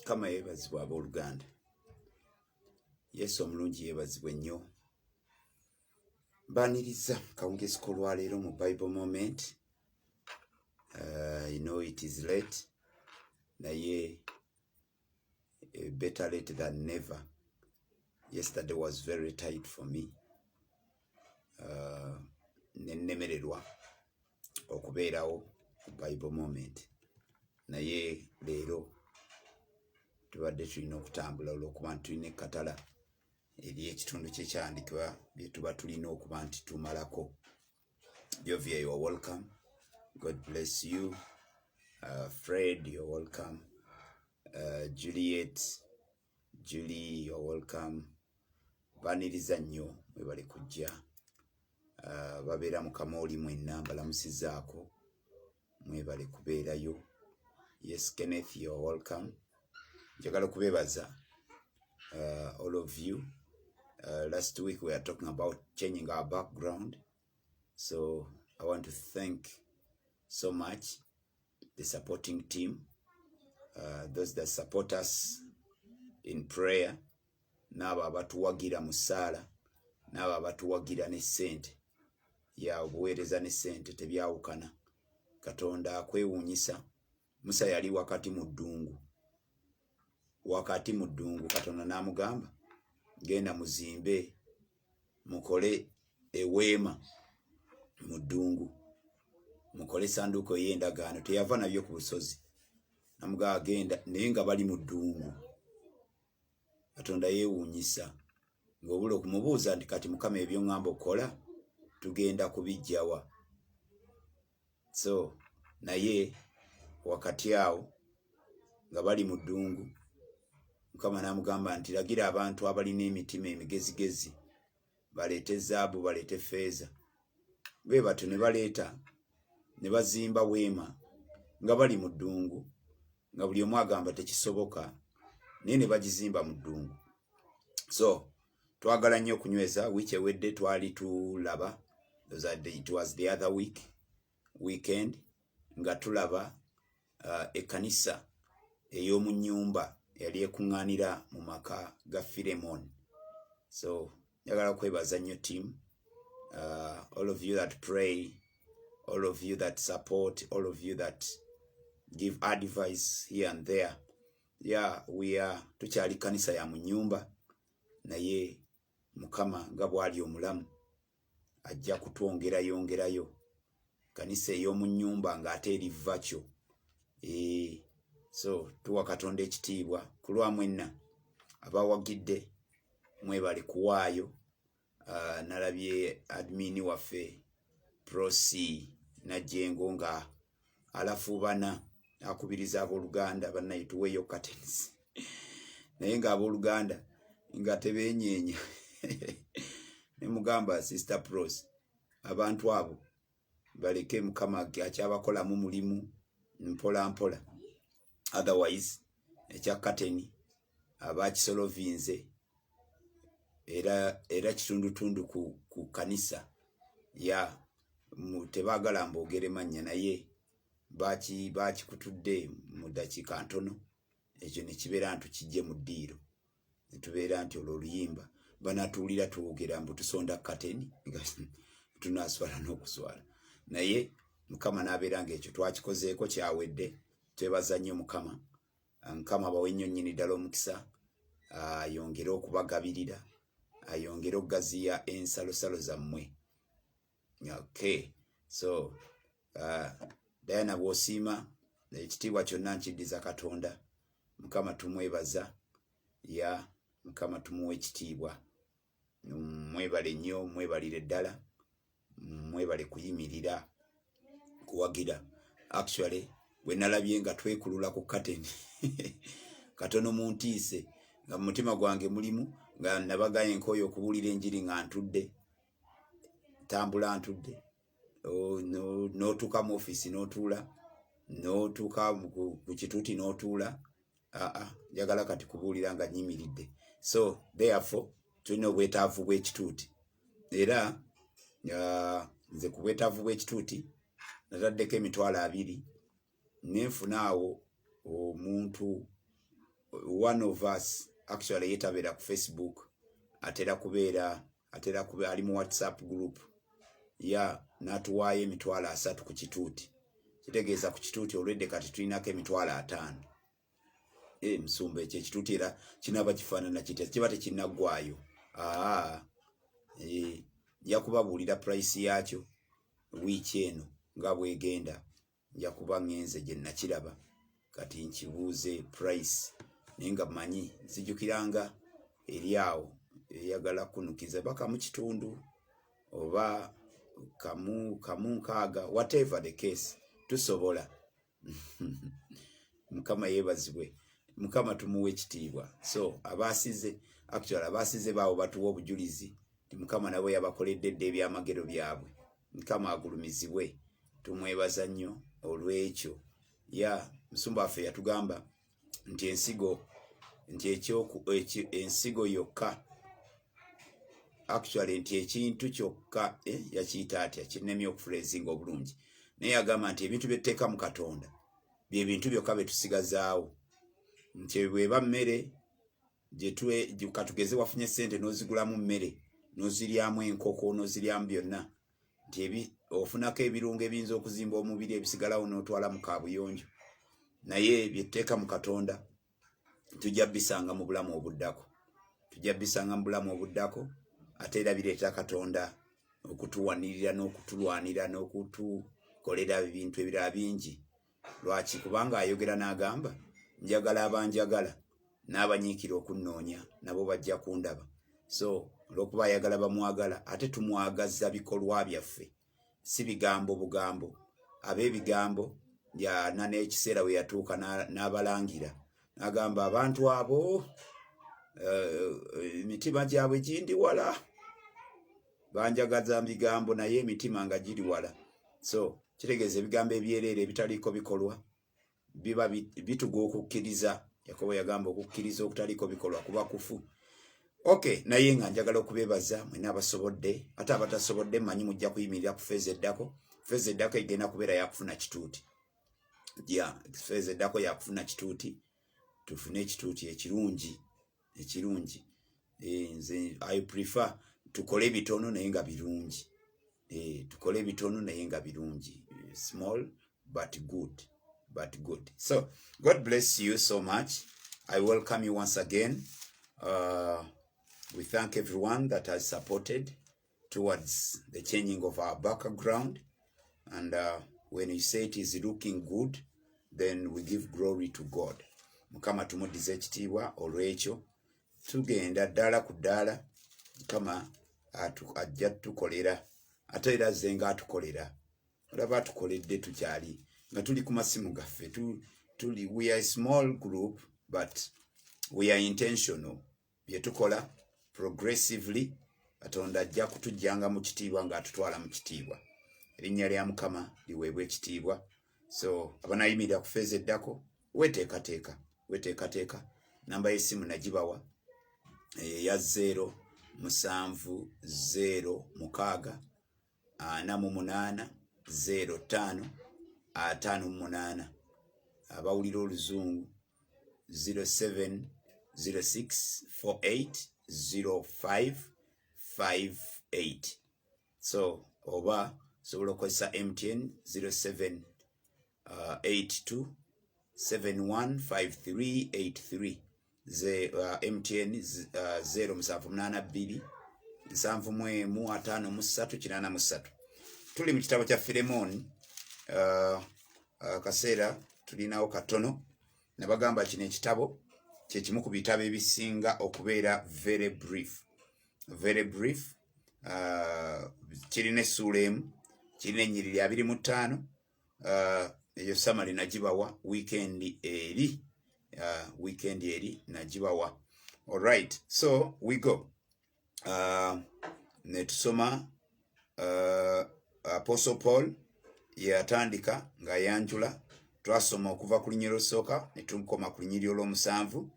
kama yebazibwa abooluganda yesu omulungi yebazibwa ennyo mbaniriza kawungezi kolwaleero mu bible moment uh, you know it is late naye uh, better late than never yesterday was very tight for me uh, nenemererwa okubeerawo ku bible moment naye leero tubadde tulina okutambula olwokuba nti tulina ekkatala eri ekitundu kyekyandikibwa byetuba tulina okuba nti tumalako jovia your welcome god bless you uh, fred your welcome uh, juliet Julie, you're welcome. Baniriza nnyo mwebale kujja uh, babeera mu kamooli mwenna mbalamusizaako mwebale kubeerayo. Yes, Kenneth, you're welcome. Njagala kubebaza uh, all of you. Uh, last week we are talking about changing our background. so i want to thank so much the supporting team uh, those that support us in prayer n'abo abatuwagira mu ssaala n'abo abatuwagira ne ssente ya obuweereza ne ssente tebyawukana katonda akwewuunyisa musa yali wakati mu ddungu wakati mu ddungu katonda n'amugamba genda muzimbe mukole eweema mu ddungu mukole esanduuko ey'endagaano teyava nabyo ku busozi namugamba genda naye nga bali mu ddungu katonda yewuunyisa ngaobula okumubuuza nti kati mukama ebyoŋamba okukola tugenda kubijjawa so naye wakati awo nga bali mu ddungu mukama n'amugamba nti lagira abantu abalina emitima emigezigezi baleete zaabu baleete feeza bwe batyo ne baleeta ne bazimba weema nga bali mu ddungu nga buli omu agamba tekisoboka naye ne bagizimba mu ddungu so twagala nnyo okunyweza wiiki ewedde twali tulaba it was the other week weekend nga tulaba uh, ekkanisa ey'omu nnyumba yali ekuŋŋaanira mu maka ga filemon so njagala kwebaza nnyo team uh, all of you that pray all of you that support all of you that give advice here and there ya we are tukyali kkanisa ya mu nnyumba naye mukama nga bwali omulamu ajja kutwongerayongerayo kanisa ey'omu nnyumba ng'ate eri vakyo eh, so tuwa katonda ekitiibwa ku lwa mwenna abawagidde mwebali kuwaayo ah, nalabye admini waffe prosi najjengo nga alafuubana akubiriza abooluganda bannaye tuweeyo katens naye ng'abooluganda nga tebeenyeenya ne mugamba sister pros abantu abo baleke mukama akyabakolamu mulimu mpola mpola otherwise ekya kateni abakisolovinze era era kitundutundu ku, ku kanisa ya tebagala mbogere mannya naye baki bakikutudde mu dakiika ntono ekyo nekibeera nti kijje mu ddiiro netubeera nti olwo oluyimba banatuwulira twogera mbu tusonda kateni tunaswala n'okuswala naye mukama nabeera ngaekyo twakikozeeko kyawedde twebaza nnyo mukama mukama abawe nnyo nnyini ddala omukisa ayongere okubagabirira ayongere okugaziya ensalosalo zammwe okay so uh, diana bwosiima ekitiibwa kyonna nkiddiza katonda mukama tumwebaza ya mukama tumuwa ekitiibwa mwebale nnyo mwebalire ddala mwebale kuyimirira kuwagira actually bwe nalabye nga twekulula ku kateni katono mu ntiise nga mu mutima gwange mulimu nga nabagaye nkooyo okubuulira enjiri nga ntudde tambula ntudde n'otuuka mu ofiisi n'otuula n'otuuka ku kituuti n'otuula aa njagala kati kubuulira nga nyimiridde so therefore tulina obwetaavu bw'ekituuti era nze ku bwetaavu bw'ekituuti nataddeko emitwalo abiri nenfuna awo omuntu one of us actually yetabeera ku facebook atera kubeera atera kube ali mu whatsapp group ya natuwaayo emitwalo asatu ku kituuti kitegeeza ku kituuti olwedde kati tulinako emitwalo ataano e musumba ekyo ekituuti era kinaba kifaanana kitya kiba tekinaggwayo aa e, nja kubabuulira price yaakyo wiiki eno nga bwegenda nja kuba ŋŋenze gye nakiraba kati nkibuuze price naye nga manyi nzijukiranga eri awo eyagala kunukiza ba kamu kitundu oba kamu kamu nkaaga whatever the case tusobola mukama yebazibwe mukama tumuwa ekitiibwa so abaasize actual abaasize baawo batuwa obujulizi nti mukama nabo yabakoledde dda ebyamagero byabwe mukama agulumizibwe tumwebaza nnyo olwekyo ya musumba waffe yatugamba nti ensigo nti ekyoku ensigo yokka actually nti ekintu kyokka eh, yakiyita atya kinnemye okufula ensinga obulungi naye agamba nti ebintu byetteeka mu katonda byebintu byokka byetusigazaawo nti bweba mmere katugeze wafunye sente nozigulamu mmere noziryamu enkoko noziryamu byonna nti ofunako ebirungo ebiyinza okuzimba omubiri ebisigalawo notwala mu kabuyonjo naye byetteeka mu katonda tujja bisanga mu bulamu obuddako tujja bisanga mu bulamu obuddako ate era bireeta katonda okutuwanirira n'okutulwanira n'okutukolera ebintu ebirala bingi lwaki kubanga ayogera n'agamba njagala abanjagala n'abanyiikira okunnoonya nabo bajja kundaba so olwokuba ayagala bamwagala ate tumwagaza bikolwa byaffe si bigambo bugambo ab'ebigambo yana n'ekiseera we yatuuka n'abalangira agamba abantu abo eh, eh, emitima gyabwe gindi wala banjagaza bigambo naye emitima nga giri wala so kitegeeza ebigambo ebyereere ebitaliiko bikolwa biba bituga okukkiriza yakobo yagamba okukkiriza okutaliiko bikolwa kuba kufu ok naye nga njagala okubebaza mwena abasobodde ate abatasobodde manyi mujja kuyimirira ku feeza eddako feeza eddako egenda kubeera yakufuna kituuti ya feeza eddako yakufuna kituuti tufune ekituuti ekirungi ekirungi eh, nze i prefer tukole bitono naye nga birungi eh, tukole bitono naye nga birungi small but good but good so god bless you so much i welcome you once again uh, we thank everyone that has supported towards the changing of our background and uh, when you say it is looking good then we give glory to god mukama tumudize ekitiibwa olwekyo tugenda ddaala ku ddaala mukama ajja tukolera ate era azze nga atukolera olaba atukoledde tukyali nga tuli ku masimu gaffe tuli we are a small group but we are intentional bye tukola progressively katonda ajja kutujjanga mu kitiibwa ng'atutwala mu kitiibwa erinnya lya mukama liweebwa ekitiibwa so abanayimirira ku feeza eddako weteekateeka weteekateeka namba y'essimu nagibawa eya zeero musanvu zeero mukaaga ana mu munaana zeero ttaano ataano mu munaana abawulira oluzungu 0706480558 so oba osobola okozesa mtn 07 uh, 82 715383 ze uh, MTN uh, 0782 nsanvu mu emu ataano mu ssatu kinaana mu ssatu tuli mu kitabo kya Firemooni uh, uh, kaseera tulinawo katono nabagamba kino ekitabo kyekimu ku bitabo ebisinga okubeera very brief very brief uh, kirina essuula emu kirina ennyiriri abiri mu ttaano uh, eyo samale nagibawa weekend eri uh, weekend eri nagibawa alright so we go uh, netusoma uh, apostle paul yeyatandika ng'ayanjula twasoma okuva ku lunyiriro olusooka ne tukoma ku lunyiriro olw'omusanvu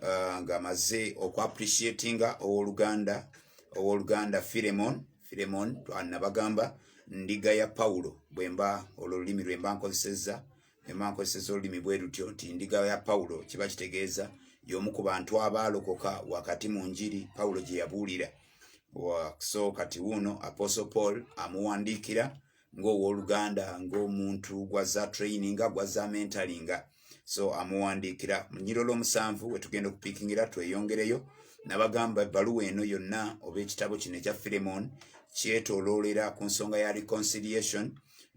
uh, nga maze oku appreciatinga owoluganda owoluganda Philemon Philemon twanabagamba ndiga ya Paulo bwemba olulimi lwemba nkozeseza emba nkozeseza olulimi bwerutyo nti ndiga ya Paulo kiba kitegeeza yomu ku bantu abaalokoka wakati mu njiri Paulo gye yabuulira so kati wuuno apostle Paul amuwandiikira ng'owoluganda ng'omuntu gwaza traininga gwaza mentalinga so amuwandiikira munyirolo omusanvu wetugenda okupikingira tweyongereyo nabagamba ebbaluwa eno yonna oba ekitabo kino ekya filemon kyetoloolera ku nsonga ya reconciliation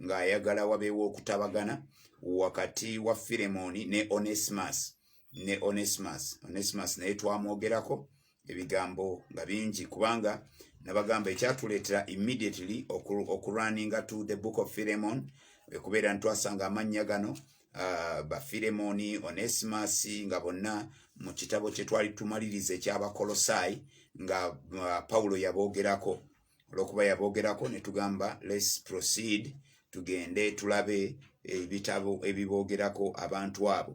ng'ayagala wabeewo okutabagana wakati wa filemoni ne onesmus ne onesmus onesmus naye twamwogerako ebigambo nga bingi kubanga nabagamba ekyatuleetera immediately okurunninga to the book of philemon ekubeera ntwasanga amannya gano uh, bafilemoni onesimus nga bonna mu kitabo kye twali tumaliriza ekyabakolosaayi nga uh, pawulo yaboogerako olwokuba yaboogerako ne tugamba lets proceed tugende tulabe ebitabo ebiboogerako abantu abo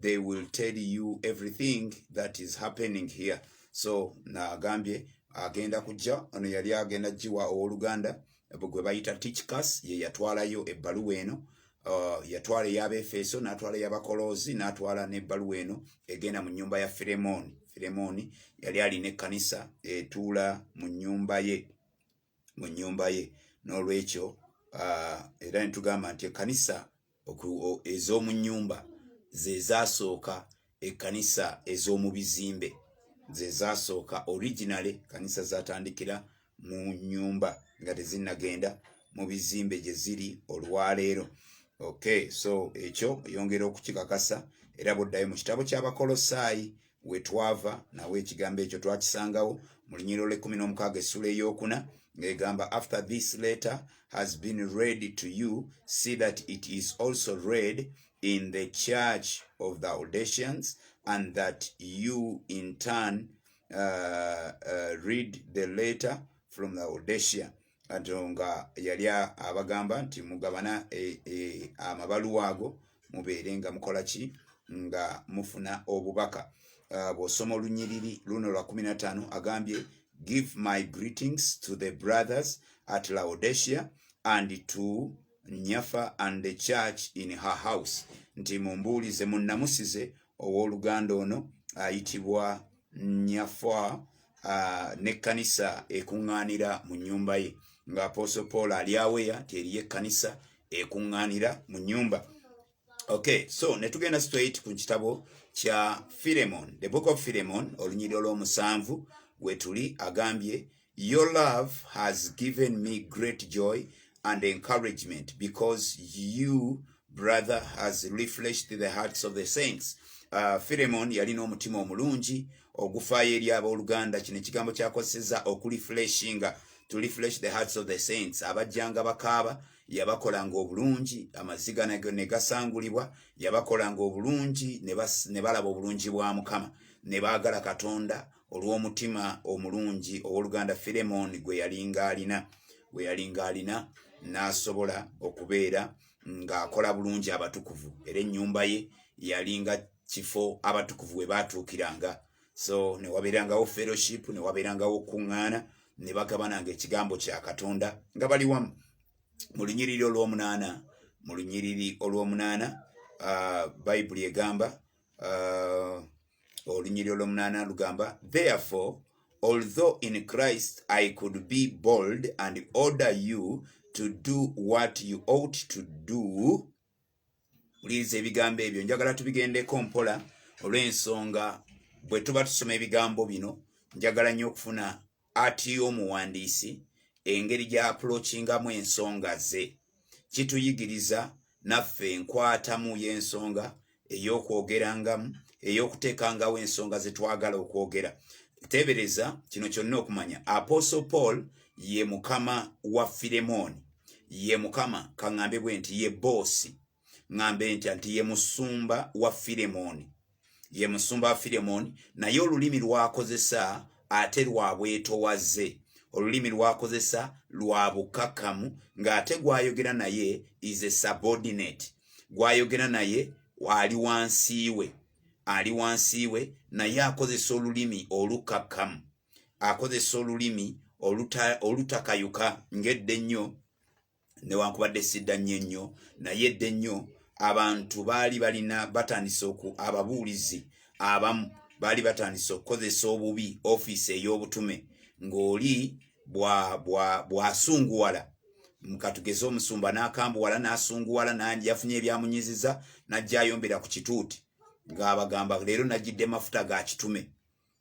they will tell you everything that is happening here so nagambye agenda kujja ono yali agenda jiwa owoluganda gwe bayita tichcas ye yatwalayo ebbaluwa eno uh, yatwala eyabefeso natwala yabakoloozi natwala nebbaluwa eno egenda mu nyumba ya firemoni firemoni yali alina ekkanisa etuula mu nyumba ye mu nyumba ye n'olwekyo uh, era nitugamba nti ekkanisa ez'omu nnyumba ze zaasooka ekkanisa ez'omu bizimbe ze zaasooka originale kanisa zatandikira mu nnyumba nga tezinnagenda mu bizimbe gye ziri olwaleero okay so ekyo yongera okukikakasa era buddayo mu kitabo ky'abakolosaayi we twava nawe ekigambo ekyo twakisangawo mu lunyiriro lw'ekkumi n'omukaaga essula ey'okuna ng'egamba after this letter has been read to you see that it is also read in the church of the audations and that you in turn uh, uh, read the letter from the audacia ato nga yali abagamba nti mugabana e, e, amabaluwa ago mubeere nga mukola ki nga mufuna obubaka uh, bw'osoma olunyiriri luno lwa 15 agambye give my greetings to the brothers at laodesia and to nyafa and the church in her house nti mumbuulize munnamusize ow'oluganda ono ayitibwa nyafa uh, n'ekkanisa ekuŋŋaanira mu nnyumba ye nga apostle paul ali aweya teriyo ekkanisa ekuŋŋaanira mu nnyumba okay so ne tugenda straight ku kitabo kya philemon the book of philemon olunyiriro lw'omusanvu wetuli agambye Your love has given me great joy and encouragement because you brother has refreshed the hearts of the saints uh, Philemon yalina omutima omulungi ogufaayo eri abooluganda kino ekigambo kyakozeseza okulifreshinga to refresh the hearts of the saints abajjanga bakaaba yabakolanga obulungi amaziga ne gasangulibwa yabakolanga obulungi ne balaba obulungi bwa mukama ne baagala katonda olw'omutima omulungi ow'oluganda Firemooni gwe yalinga alina gwe yalinga alina n'asobola okubeera ng'akola bulungi abatukuvu era ennyumba ye yalinga kifo abatukuvu we baatuukiranga so ne wabeerangawo fellowship ne wabeerangawo okukuŋŋaana ne bagabananga ekigambo kya katonda nga bali wamu mu lunyiriri olw'omunaana mu lunyiriri olw'omunaana bayibuli egamba olunyiri olwomunaana lugamba therefore although in christ i could be bold and order you to do what you ought to do wuliriza ebigambo ebyo njagala tubigendeko mpola olw'ensonga bwe tuba tusoma ebigambo bino njagala nnyo okufuna atiya omuwandiisi engeri gy'apulokingamu ensonga ze kituyigiriza naffe enkwatamu y'ensonga ey'okwogerangamu ey'okuteekangawo ensonga ze twagala okwogera teebereza kino kyonna okumanya aposo paul ye mukama wa firemooni ye mukama kaŋambe bwe nti ye boosi ŋŋamba entya nti ye musumba wa firemooni ye musumba wa firemooni naye olulimi lwakozesa ate lwa bwetowaze olulimi lwakozesa lwa bukakamu ng'ate gwayogera naye is a subordinate gwayogera naye ali wansi we ali wansi we naye akozesa olulimi olukakamu akozesa olulimi olutakayuka ng'edde ennyo newankubadde sidda nnyo ennyo naye dde nnyo abantu baali balina batandise oku ababuulizi abamu baali batandise okukozesa obubi ofiisi ey'obutume ng'oli bw'asunguwala bwa, bwa mukatugeze omusumba n'akambuwala n'asunguwala yafunye ebyamunyiziza n'ajja ayombera ku kituuti ng'abagamba leero najjidde mafuta ga kitume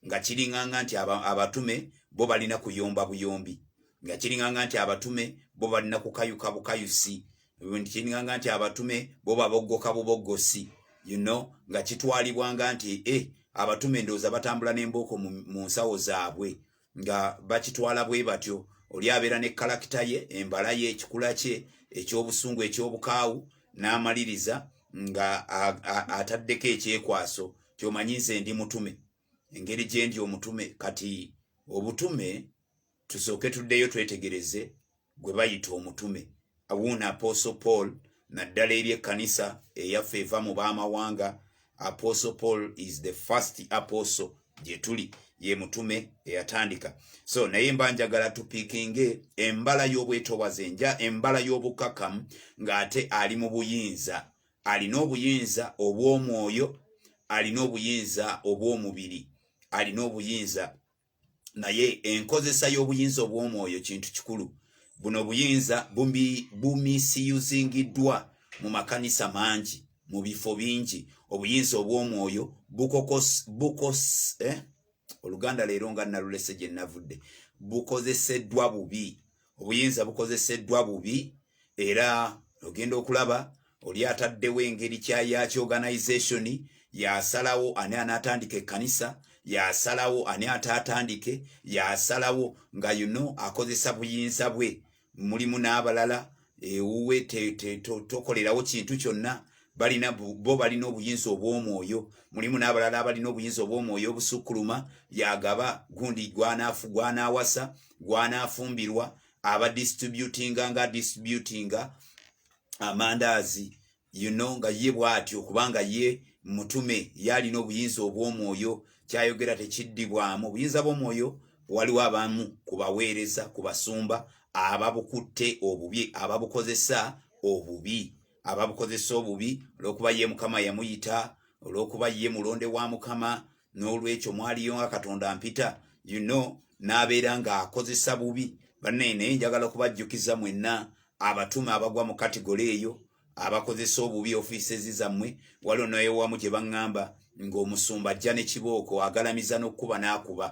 nga kiringanga nti abatume bo balina kuyomba buyombi nga kiringanga nti abatume bo balina kukayuka bukayusi nti kiringanga nti abatume bo baboggoka buboggosi you know nga kitwalibwanga nti e abatume ndowooza batambula n'embooko mu nsawo zaabwe nga bakitwala bwe batyo oli abeera ne kalakita ye embala ye ekikula kye ekyobusungu ekyobukaawu n'amaliriza nga ataddeko ekyekwaso kyomanyi nze ndi mutume engeri gyendi omutume kati obutume tusooke tuddeyo twetegereze gwe bayita omutume awuuna apostle paul naddala eri ekkanisa eyaffe eva mu b'amawanga apostle paul is the first apostle gye tuli ye mutume eyatandika so naye mba njagala tupikinge embala y'obwetowaze nja embala y'obukakamu ng'ate ali mu buyinza alina obuyinza obw'omwoyo alina obuyinza obw'omubiri alina obuyinza naye enkozesa y'obuyinza obw'omwoyo kintu kikulu buno obuyinza bumisiyuzingiddwa mu makanisa mangi mu bifo bingi obuyinza obw'omwoyo bukokos bukos eh? oluganda leero nga nalulese gye navudde bukozeseddwa bubi obuyinza bukozeseddwa bubi era ogenda okulaba oli ataddewo engeri kya yaki organization yasalawo ani anatandika ekkanisa yasalawo ani ataatandike yasalawo nga yuno akozesa buyinza bwe mulimu n'abalala ewuwe tokolerawo kintu kyonna balina bo balina obuyinza obw'omwoyo mulimu n'abalala abalina obuyinza obw'omwoyo obusukkuluma yagaba gundi gwanaafu gwanaawasa gwanaafumbirwa aba distributinga nga distributinga amandaazi you know nga ye bw'atyo kubanga ye mutume ye alina obuyinza obw'omwoyo kyayogera tekiddibwamu obuyinza bw'omwoyo waliwo abamu ku baweereza ku basumba ababukutte obubi ababukozesa obubi ababukozesa obubi olw'okuba ye mukama yamuyita olw'okuba ye mulonde wa mukama n'olwekyo mwaliyo nga katonda mpita you know n'abeera ng'akozesa bubi banaye naye njagala kubajjukiza mwenna abatume abagwa mu katigole eyo abakozesa obubi ofiisezi zammwe waliwo naye wamu gye baŋŋamba ng'omusumba ajja ne kibooko agalamiza n'okukuba n'akuba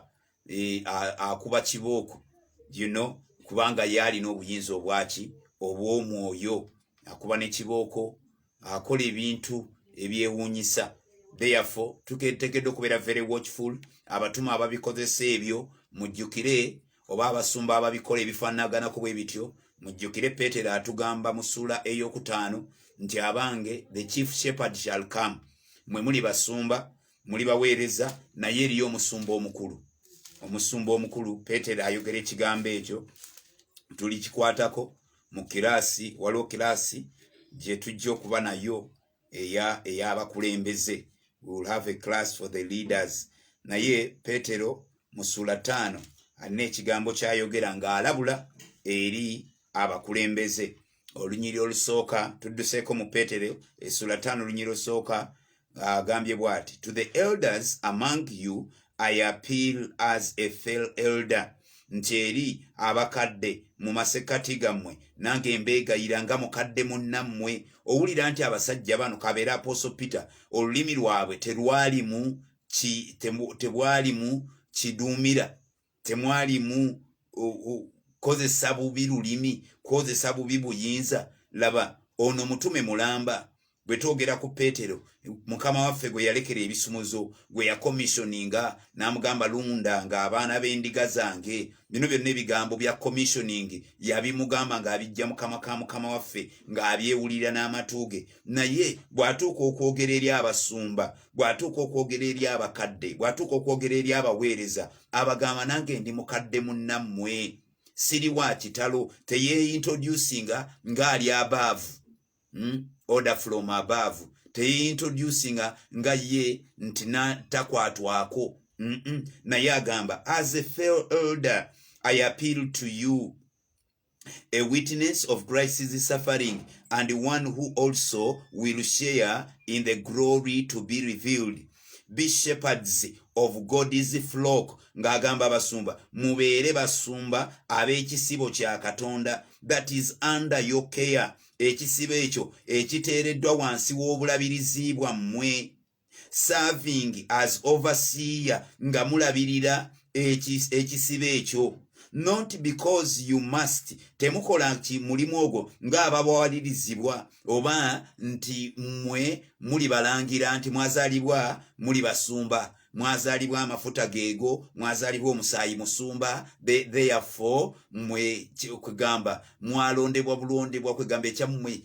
e, akuba kibooko you know kubanga yaalina obuyinza obwaki obw'omwoyo akuba ne kibooko akola ebintu ebyewuunyisa therefore tuketekedde okubeera very watchful abatuma ababikozesa ebyo mujjukire oba abasumba ababikola ebifaanaganako bwe bityo mujjukire peetero atugamba mu ssuula ey'okutaano nti abange the chief shepherd shall come mwe muli basumba muli baweereza naye eriyo omusumba omukulu omusumba omukulu peetero ayogera ekigambo ekyo tuli kikwatako mu kiraasi waliwo kiraasi gye tujja okuba nayo eyabakulembeze will have a class for the leaders naye peetero mu suula taano alina ekigambo kyayogera ng'alabula eri abakulembeze olunyiri olusooka tudduseeko mu peetero essula ttaano olunyiri olusooka agambye uh, bwati to the elders among you i appeal as a fel elder nti eri abakadde mu masekkati gammwe nange mbeegayira nga mukadde munnammwe owulira nti abasajja bano kabeera apostle peter olulimi lwabwe terwalimu tebwalimu kiduumira temwalimu kozesa bubi lulimi kozesa bubi buyinza laba ono mutume mulamba bwe twogera ku peetero mukama waffe gwe yalekera ebisumuzo gwe yakomissioninga n'amugamba lunda nga abaana b'endiga zange bino byonna ebigambo bya commissioning yabimugamba ng'abijja mukama ka mukama waffe ng'abyewulira n'amatu ge naye bw'atuuka okwogera eri abasumba bw'atuuka okwogera eri abakadde bw'atuuka okwogera eri abaweereza abagamba nange ndi mukadde munnammwe siri wa kitalo teyeintroducinga ngaali abaavu hmm? order from above teyeintroducinga nga ye nti takwatwako naye agamba as a fail elder i appeal to you a witness of Christ's suffering, and one who also will share in the glory to be revealed. Be shepherds of God's flock, ng'agamba basumba, mubeere basumba ab'ekisibo kya Katonda, that is under your care, ekisibo ekyo ekiteereddwa wansi w'obulabirizi bwammwe. serving as overseer nga mulabirira ekisibe ekyo not because you must temukola nti mulimu ogwo ng'ababawalirizibwa oba nti mmwe muli balangira nti mwazalibwa muli basumba mwazalibwa amafuta geego mwazalibwa omusaayi musumba therefore mwe kwegamba mwalondebwa bulondebwa kwegamba ekyammwe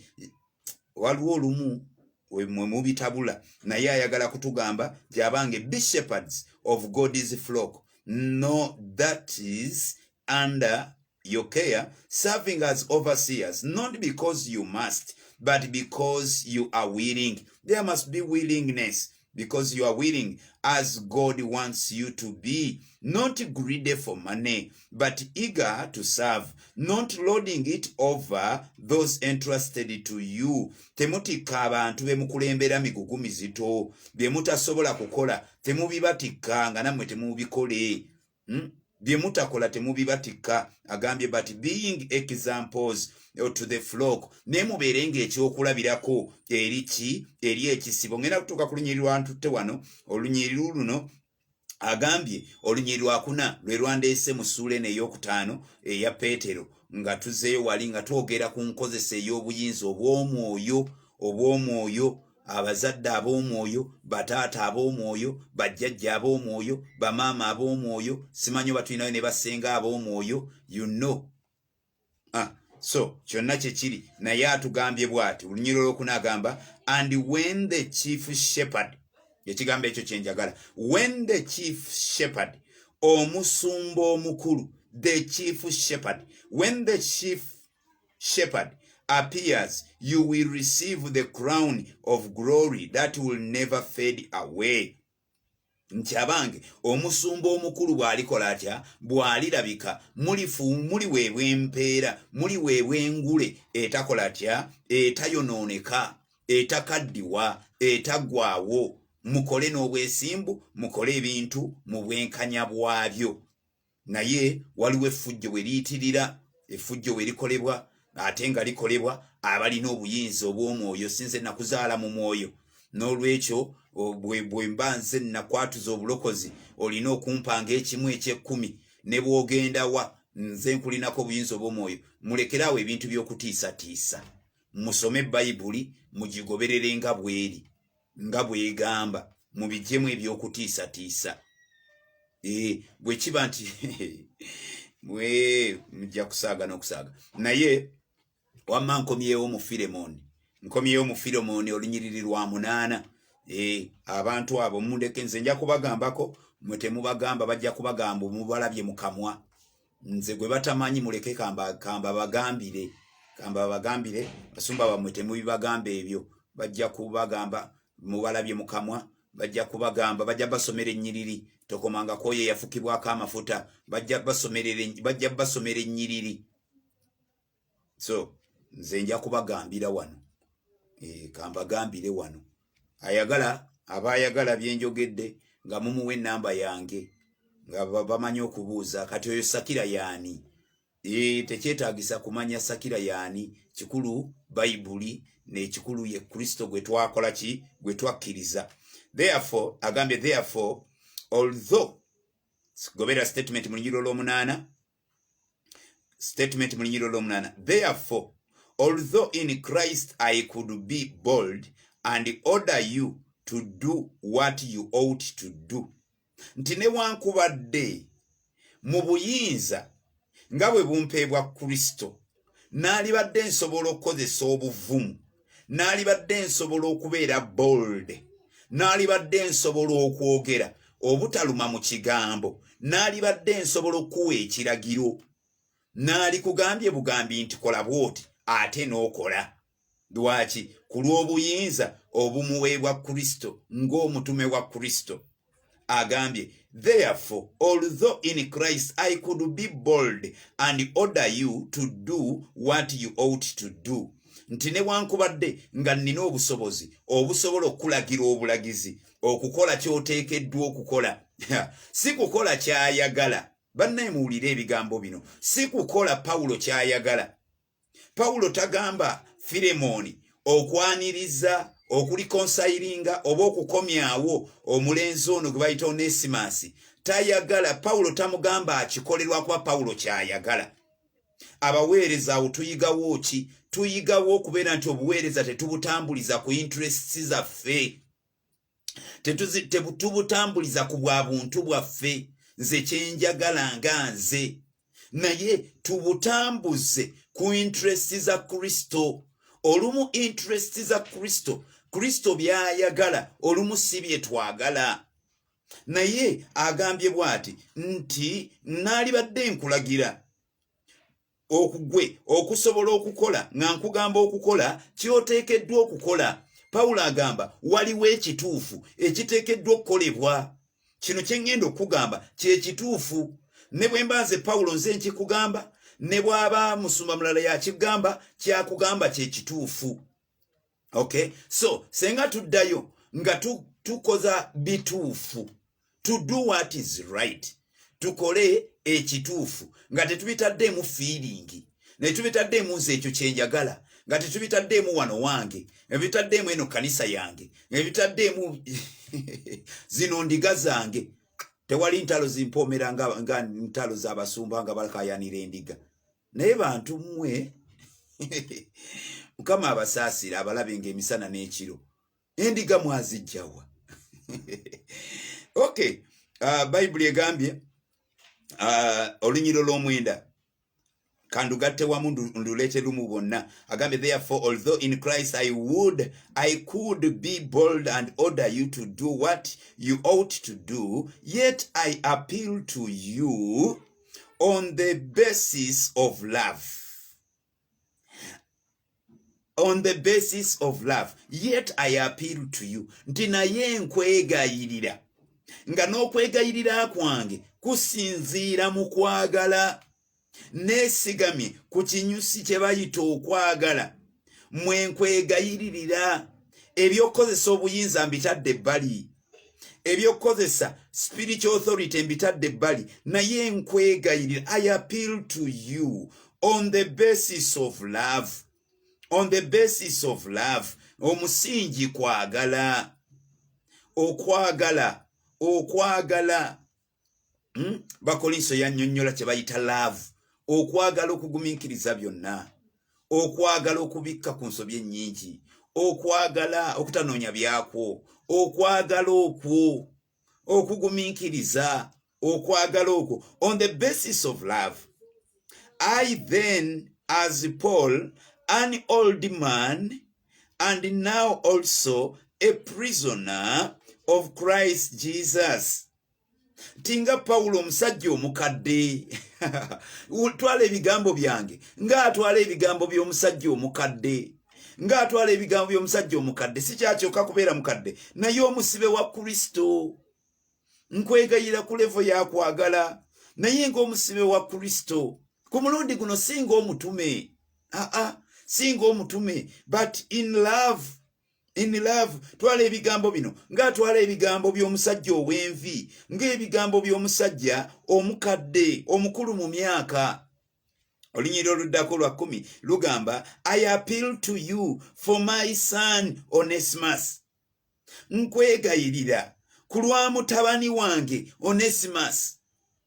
waliwo olumu mwe mubitabula naye ayagala kutugamba gyabange be shepherds of god's flock no that is under your care serving as overseers not because you must but because you are willing there must be willingness because you are willing as God wants you to be, not greedy for money, but eager to serve, not loading it over those entrusted to you. Temutikka abantu bemukulembera migugu mizito byemutasobola kukola, temubibatikka nga namwe temubikole. hmm? byemutakola temubibatikka agambye but being examples eh, to the flock naye mubeere nga ekyokulabirako eri ki eri ekisibo ngenda kutuuka ku lunyiri lwantutte wano olunyiri luno agambye olunyiri lwakuna lwe lwandeese mu suula eno eyokutaano eya peetero nga tuzeeyo wali nga twogera ku nkozesa ey'obuyinza obw'omwoyo obw'omwoyo abazadde ab'omwoyo bataata ab'omwoyo bajjajja ab'omwoyo bamaama ab'omwoyo simanyi oba tulinayo ne basenga ab'omwoyo you know ah, so kyonna kyekiri naye atugambye bw'ati olunyiro olwokuna agamba and when the chief shepherd ekigambo ekyo kyenjagala when the chief shepherd omusumba omukulu the chief shepherd when the chief shepherd appears, you will receive the crown of glory that will never fade away. nti abange omusumba omukulu bw'alikola atya bw'alirabika muliweebwa empeera muliweebwa engule etakola atya etayonooneka etakaddiwa etaggwawo mukole n'obwesimbu mukole ebintu mu bwenkanya bwabyo naye waliwo effujjo we liyitirira effujjo we likolebwa ate nga likolebwa abalina obuyinza obw'omwoyo sinze nakuzaala mu mwoyo n'olwekyo bwe mba nze nakwatuza obulokozi olina okumpanga ekimu ekyekkumi ne bw'ogenda wa nze nkulinako obuyinza obw'omwoyo mulekeraawo ebintu by'okutiisatiisa musome bayibuli mugigoberere nga bweri nga bwegamba mubijemu ebyokutiisatiisa eh, bwekiba nti mwe mujja kusaaga nokusaaga naye wamma nkomyewo mu firemon nkomyewo mu firemon olunyiriri lwa munaana eh, abantu abo mundeke nze nja kubagambako mwe temubagamba bajja kubagamba omubalabye mukamwa nze gwe batamanyi muleke kamba kamba bagambire kamba bagambire basumba bamwe temubibagamba ebyo bajja kubagamba mubalabye mukamwa bajja kubagamba bajja basomera ennyiriri tokomanga kwoyo eyafukibwako amafuta bajja basomera ennyiriri so nze nja kubagambira wano e, kambagambire wano ayagala aba ayagala byenjogedde nga mumuwa enamba yange nga bamanyi okubuuza kati oyo sakira yaani e, tekyetagisa kumanya sakira yaani kikulu bayibuli nekikulu ye kristo gwe twakola ki gwe twakkiriza therefore agambye therefore although gobera statement mu lunyiro lw'omunaana statement mu lunyiriro lw'omunaana therefore although in christ i could be bold and order you to do what you ought to do nti newankubadde mu buyinza nga bwe bumpeebwa kristo naalibadde nsobola okukozesa obuvumu naalibadde nsobola okubeera bold naalibadde nsobola okwogera obutaluma mu kigambo naalibadde nsobola okukuwa ekiragiro naalikugambye bugambi nti kola bwoti ate n'okola lwaki ku lw'obuyinza obumuweebwa kristo ng'omutume wa kristo agambye therefore although in christ i could be bold and order you to do what you ought to do nti newankubadde nga nnina obusobozi obusobola okukulagira obulagizi okukola ky'oteekeddwa okukola si kukola ky'ayagala bannaye muwulire ebigambo bino si kukola pawulo ky'ayagala pawulo tagamba firemooni okwaniriza okulikonsayiringa oba okukomyawo omulenzi ono gwe bayita onesimasi tayagala pawulo tamugamba akikolerwakuba pawulo kyayagala abaweereza awo tuyigawo ki tuyigawo okubeera nti obuweereza tetubutambuliza ku interests zaffe tetubutambuliza ku bwa buntu bwaffe nze kyenjagala nga nze naye tubutambuze ku interest za kristo olumu interest za kristo kristo byayagala olumu si byetwagala naye agambye bwati nti naalibadde nkulagira okugwe okusobola okukola nga nkugamba okukola kyoteekeddwa okukola pawulo agamba waliwo ekituufu ekiteekeddwa okukolebwa kino kye ŋŋenda okukugamba kye kituufu ne bwe mba nze pawulo nze nkikugamba ne bw'aba musumba mulala yakigamba kyakugamba kye kituufu okay so senga tuddayo nga tu, tukoza bituufu to do what is right tukole ekituufu nga tetubitaddeemu fiiringi naye tubitaddeemu nze ekyo kyenjagala nga tetubitaddeemu wano wange ebitaddeemu eno kanisa yange ebitaddeemu zino ndiga zange tewali ntalo zimpoomera nga, nga ntalo z'abasumba nga balakayanira endiga naye bantu mmwe mukama abasaasira abalabe nga emisana n'ekiro endiga mwazijjawa ok uh, bayibuli egambye uh, olunyiro lw'omwenda kandugatte wamu nduleete lumu bonna agambye therefore although in christ i would i could be bold and order you to do what you ought to do yet i appeal to you on the basis of love on the basis of love yet i appeal to you nti naye nkwegayirira nga n'okwegayirira kwange kusinziira mu kwagala neesigamye ku kinyusi kye bayita okwagala mwe nkwegayiririra ebyokukozesa obuyinza mbitadde ebbali ebyokukozesa spiritual authority mbitadde ebbali naye nkwegayirira i appeal to you on the basis of love on the basis of love omusingi kwagala okwagala okwagala hmm? bakolinso yanyonyola kyebayita laavu okwagala okugumiikiriza byonna okwagala okubikka ku nsobi ennyingi okwagala okutanoonya byakwo okwagala okwo okugumiikiriza okwagala okwo on the basis of love i then as paul an old man and now also a prisoner of christ jesus tinga pawulo omusajja omukadde twala ebigambo byange ngaatwala ebigambo by'omusajja omukadde ngaatwala ebigambo by'omusajja omukadde sikyakyoka kubeera mukadde naye omusibe wa kristo nkwegayira ku levo yakwagala naye ngaomusibe wa kristo ku mulundi guno singa omutume aa singa omutume but in love in love twala ebigambo bino ng'atwala ebigambo by'omusajja ow'envi ng'ebigambo by'omusajja omukadde omukulu mu myaka olunyiriro oluddako lwa kumi lugamba i appeal to you for my son onesimus nkwegayirira ku lwa mutabani wange onesimus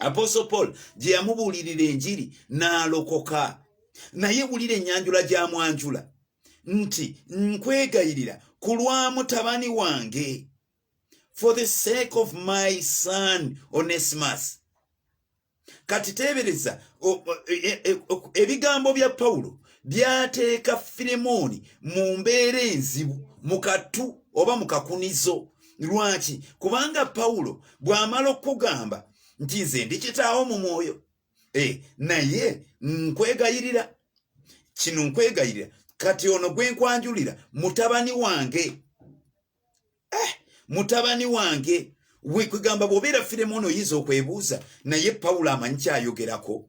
apostle paul gye yamubuulirira enjiri n'alokoka naye wulira enyanjula gya mwanjula nti nkwegayirira ku lwa mutabani wange for the sake of my son onesimus kati teebereza e, e, e, ebigambo bya pawulo byateeka firemooni mu mbeera enzibu mu katu oba mu kakunizo lwaki kubanga pawulo bw'amala okukugamba nti nze ndi kitaawo mu mwoyo e, naye nkwegayirira kino nkwegayirira kati ono gwe nkwanjulira mutabani wange eh, mutabani wange wekugamba bwobeera firemu ono oyinza okwebuuza naye pawulo amanyi kyayogerako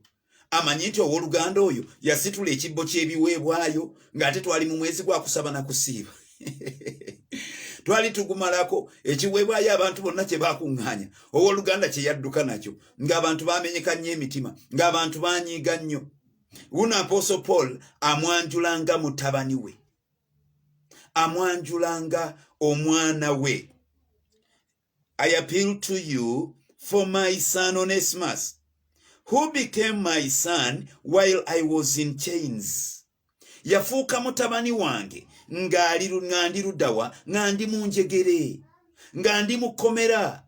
amanyi nti owoluganda oyo yasitula ekibbo ky'ebiweebwayo ng'ate twali mu mwezi gwa kusaba na kusiiba twali tugumalako ekiweebwayo abantu bonna kye baakuŋŋaanya owoluganda kye yadduka nakyo ng'abantu baamenyeka nnyo emitima ng'abantu baanyiiga nnyo wuno apooso paul amwanjulanga mutabani we amwanjulanga omwana we I appeal to you for my son Onesimus, who became my son while I was in chains. Yafuuka mutabani wange nga ndi ludawa nga ndi mu njegere nga ndi mu kkomera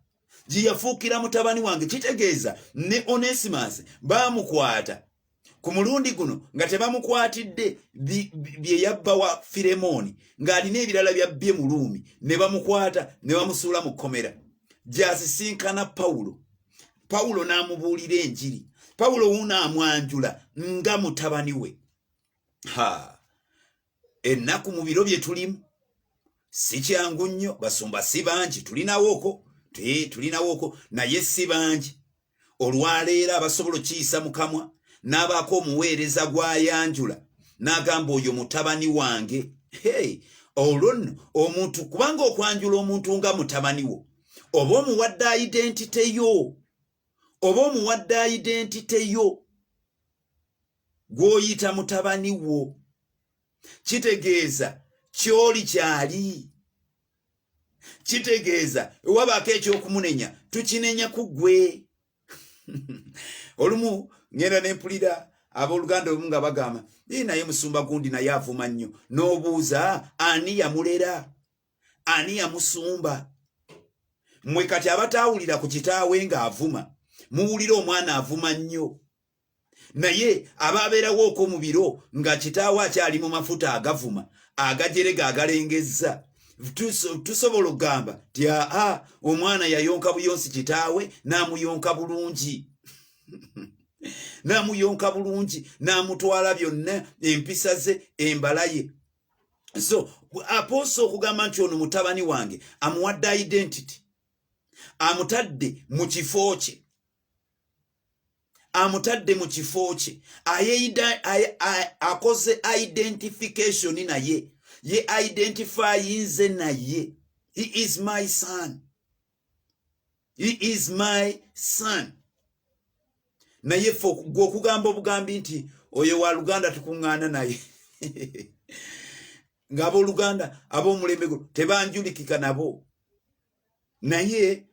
gye yafuukira mutabani wange kitegeeza ne Onesimus baamukwata ku mulundi guno nga tebamukwatidde bye yabba wa firemooni ng'alina ebirala byabbye mu luumi ne bamukwata ne bamusuula mu kkomera gy'asisinkana pawulo pawulo n'amubuulira enjiri pawulo wuuno amwanjula nga mutabani we ha ennaku mu biro bye tulimu si kyangu nnyo basumba si bangi tulinawooko tulinawooko naye si bangi olwaleero abasobola okiyisa mu kamwa n'abaako omuweereza gw'ayanjula n'agamba oyo mutabani wange hey, olwo nno omuntu kubanga okwanjula omuntu nga mutabani wo oba omuwadde identite yo oba omuwadde identite yo gwoyita mutabani wo kitegeeza kyoli kyali kitegeeza ewabaako ekyokumunenya tukinenya ku gwe olumu ngenda nempulira abooluganda olumu nga bagamba i naye musumba gundi naye avuma nnyo n'obuuza ani yamulera ani yamusumba mwe kati abataawulira ku kitaawe ng'avuma muwulira omwana avuma nnyo naye aba abeerawo okwo mu biro nga kitaawo akyali mu mafuta agavuma agajerega agalengezza tusobola okugamba ti aa omwana yayonka buyonsi kitaawe n'amuyonka bulungi n'amuyonka bulungi n'amutwala byonna empisa ze embala ye so apoosa okugamba nti ono mutabani wange amuwadde identity amutadde mu kifo kye amutadde mu kifo kye akoze identification naye ye identifyinze naye he is my son he is my son naye fe gwe okugamba obugambi nti oyo wa luganda tukuŋŋaana naye ng'abooluganda ab'omulembe guno tebanjulikika nabo naye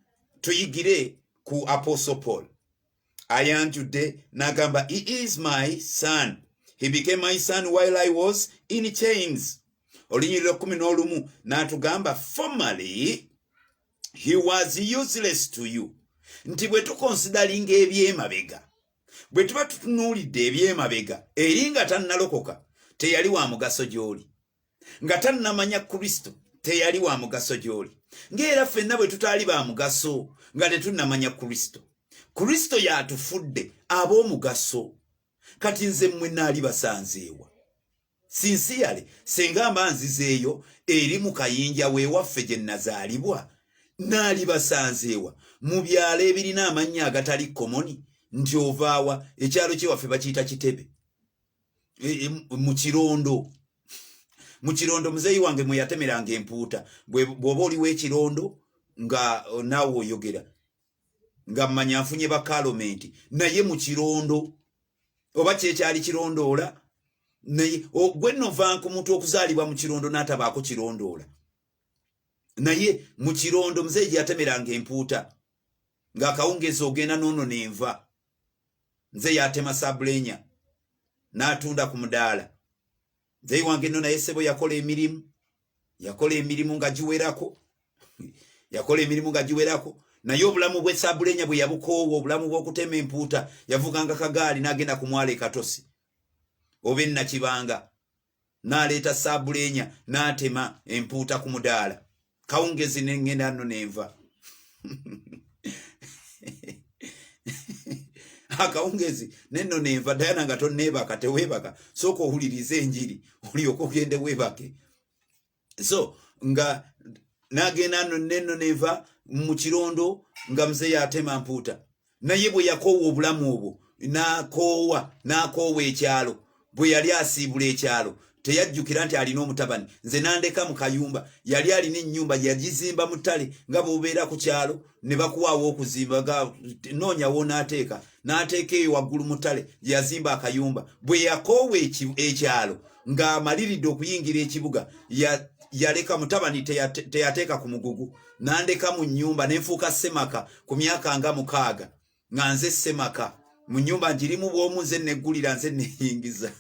tuyigire ku apostle paul ayanjudde nagamba he is my son he became my son while i was in chains olunyirira kumi n'olumu n'atugamba formerly he was useless to you nti bwe tukonsidalinga ebyemabega bwe tuba tutunuulidde ebyemabega eri nga tannalokoka teyali wa mugaso gy'oli nga tannamanya kristo teyali wa mugaso gy'oli ng'era ffenna bwe tutaali ba mugaso nga tetunnamanya kristo kristo y'atufudde ab'omugaso kati nze mmwe naali basanzeewa sinsiyale senga mba nzizeeyo eri mu kayinja weewaffe gye nnazaalibwa naali basanzeewa mu byalo ebirina amannya agatali komoni nti ovaawa ekyalo kyewaffe bakiyita kitebe e, e, mu kirondo mu kirondo muzeeyi wange mwe yatemeranga empuuta bw'oba oliwo ekirondo nga oh, naawe oyogera nga mmanya nfunye bakalomenti naye mu kirondo oba kyekyali kirondoola naye gwe novanku muntu okuzaalibwa mu kirondo n'atabaako kirondoola naye mu kirondo muzeeyi gye yatemeranga empuuta ng'akawungeezi ogenda noono nenva nze yatema sabulenya n'atunda ku mudaala nze iwange nno naye sebo yakola emirimu yakola emirimu nga giwerako yakola emirimu nga giwerako naye obulamu bwe sabulenya bwe yabukoowa obulamu bw'okutema empuuta yavuganga kagaali n'agenda ku mwala ekatosi oba ennakibanga n'aleeta saabuleenya n'atema empuuta ku mudaala kawungezi nengenda nno nenva akawungezi nenno nenva dayana nga tonneebaka teweebaka sooka owuliriza enjiri olyoka ogende weebake so nga nagenda no neno neva mu kirondo nga mzee yatema mpuuta naye bwe yakoowa obulamu obwo nakoowa nakoowa ekyalo bwe yali asiibula ekyalo teyajjukira nti alina omutabani nze nandeka mu kayumba yali alina ennyumba yagizimba mu ttale nga bwobeera ku kyalo ne bakuwaawo okuzimba ga noonya wonaateeka n'ateeka eyo waggulu mutale yazimba akayumba bwe yakoowa ekyalo ng'amaliridde okuyingira ekibuga yaleka mutabani teyateeka ku mugugu nandeka mu nyumba nenfuuka semaka ku myaka nga mukaaga nga nze semaka mu nyumba njirimu bwomu nze negulira nze neyingiza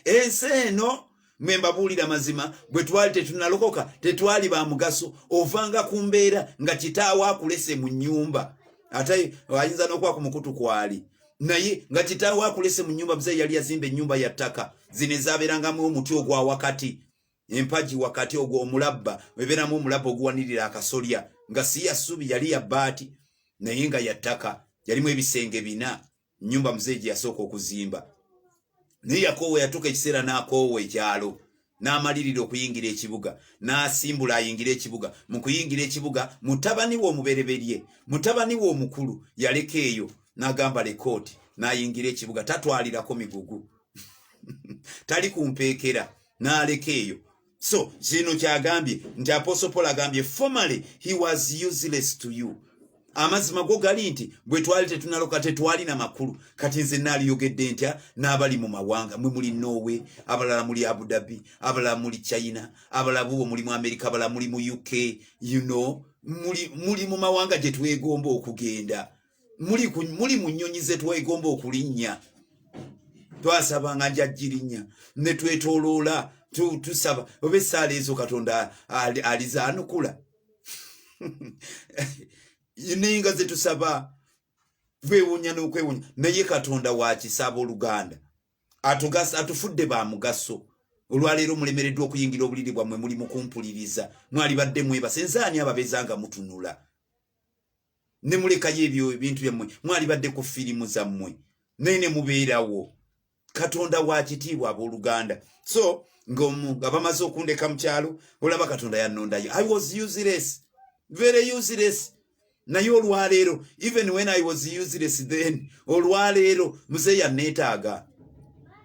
ensi eno mwe mbabuulira mazima bwe twali tetunalokoka tetwali ba mugaso ovanga ku mbeera nga kitaawo akulese mu nyumba ate ayinza n'okuba ku mukutu kwali naye nga kitaawo akulese mu nyumba muzeeyi yali yazimba ennyumba ya ttaka zino ezaabeerangamu omuti ogwa wakati empagi wakati ogwo omulabba ebeeramu omulabba oguwanirira akasolya nga si ya ssubi yali ya bbaati naye nga ya ttaka yalimu ebisenge bina nnyumba muzeeyi gye yasooka okuzimba naye yakoowa yatuuka ekiseera n'akoowa ekyalo n'amalirira okuyingira ekibuga n'asimbula ayingira ekibuga mu kuyingira ekibuga mutabani we omubereberye mutabani we omukulu yaleka eyo n'agamba lekooti n'ayingira ekibuga tatwalirako migugu tali ku mpeekera n'aleka eyo so kino kyagambye nti aposopol agambye formerly he was useless to you amazima go gali nti bwe twali tetunaloka tetwalina makulu kati nze naaliyogedde ntya n'abali mu mawanga mwe muli norway abalala muli abudabi abalala muli china abalala bubo muli mu amerika abalala muli mu uk you know muli, muli mu mawanga gye twegomba okugenda muli muli mu nnyonyi ze twegomba okulinnya twasabanga njajjirinya ne twetoloola tusaba oba essaala ezo katonda alizaanukula ninga ze tusaba twewunya n'okwewunya naye katonda wakisaba oluganda atufudde ba mugaso olwaleero mulemereddwa okuyingira obuliri bwammwe muli mukumpuliriza mwalibadde mwebase nzaani ababezanga mutunula ne mulekayo ebyo ebintu byammwe mwalibadde ku firimu zammwe naye ne mubeerawo katonda wa kitiibwa abooluganda so ngaomu nga bamaze okundeka mu kyalo olaba katonda yannondayo i was useless very useless naye olwaleero even when i was useless then olwaleero muze yanneetaaga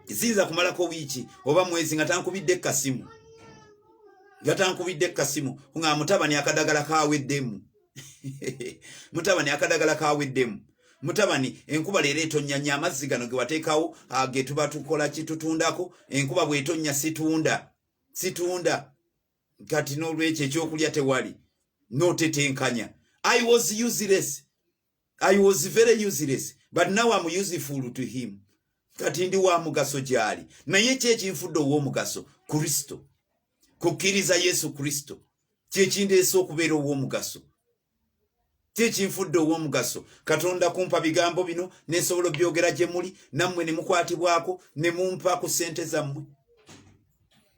ziyinza kumalako wiiki oba mwezi nga tankubidde ekkasimu nga tankubidde ekkasimu nga mutabani akadagala kaweddemu mutabani akadagala kaweddemu mutabani enkuba leero etonya nya amazzi gano gewateekawo ah, getuba tukola kitutundako enkuba bwetonya situunda situunda kati n'olwekyo ekyokulya tewali notetenkanya i was useless i was very useless but now am useful to him kati ndi wa mugaso gyali naye ki ekinfudde ow'omugaso kristo kukkiriza yesu kristo kyekindeesa okubeera ow'omugaso kyekinfudde ow'omugaso katonda kumpa bigambo bino nensobola obyogera gye muli nammwe ne mukwatibwako ne mumpa ku ssente zammwe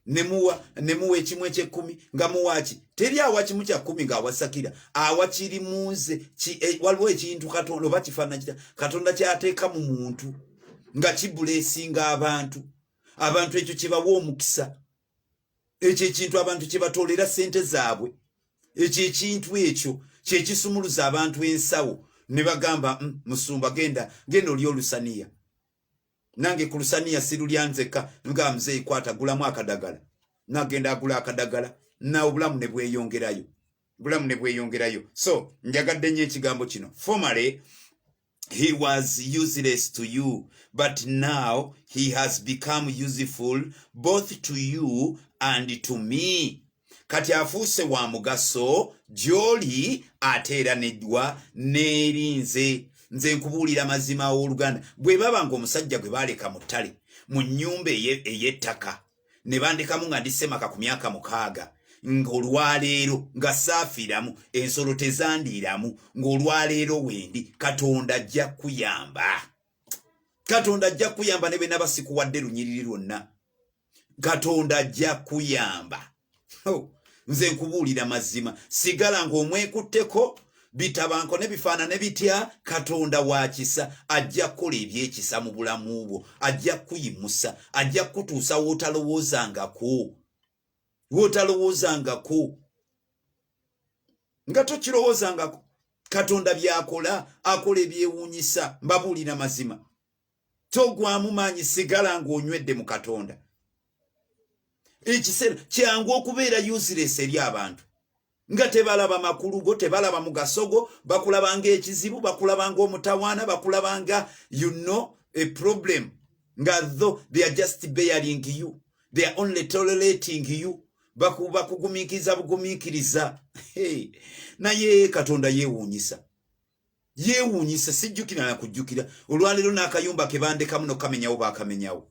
nemuwa nemuwa ekimu ekyekkumi nga muwaki teri awa kimu kya kkumi ng'awasakira awa kiri mu nze e, waliwo ekintu katonda oba kifaanana kita katonda kyateeka mu muntu nga kibuleesinga abantu abantu ekyo kyebawa omukisa ekyo ekintu abantu kyebatoolera ssente zaabwe ekyo ekintu ekyo kyekisumuluza abantu ensawo ne bagamba mm, musumba genda genda oli olusaniya nange ku lusaniya sirulya nzekka nga mzeeyi kwata gulamu akadagala nagenda agula akadagala na obulamu ne bweyongerayo bulamu ne bweyongerayo so njagadde nnyo ekigambo kino formerly he was useless to you but now he has become useful both to you and to me kati afuuse wa mugaso gy'oli ate era neddwa n'eri nze nze nkubuulira mazima aw'oluganda bwe baba ng'omusajja gwe baaleka mu ttale mu nnyumba ey'ettaka ne bandekamu nga ndi semaka ku myaka mukaaga ng'olwaleero nga saafiramu ensolo tezandiiramu ng'olwaleero wendi katonda ajja kuyamba katonda ajja kuyamba ne bwe naba sikuwadde lunyiriri lwonna katonda ajja kuyamba oh, nze nkubuulira mazima sigala ng'omwekutteko bitabanko ne bifaanane bitya katonda wa kisa ajja kukola ebyekisa mu bulamu bwo ajja kukuyimusa ajja kukutuusa wotalowoozangako wotalowoozangako nga tokirowoozangako katonda byakola akola ebyewuunyisa mbabuulira mazima togwamu maanyi sigala ng'onywedde mu katonda ekiseera kyangu okubeera useless eri abantu nga tebalaba makulu go tebalaba mugasogo bakulaba nga ekizibu bakulaba nga omutawaana bakulaba nga you know a problem nga tho they are just bearing you they are only tolerating you bakugumiikiriza bugumiikiriza naye katonda yeewuunyisa yeewuunyisa sijjukira na kujjukira olwaleero n'akayumba ke bandekamu nokukamenyawo baakamenyawo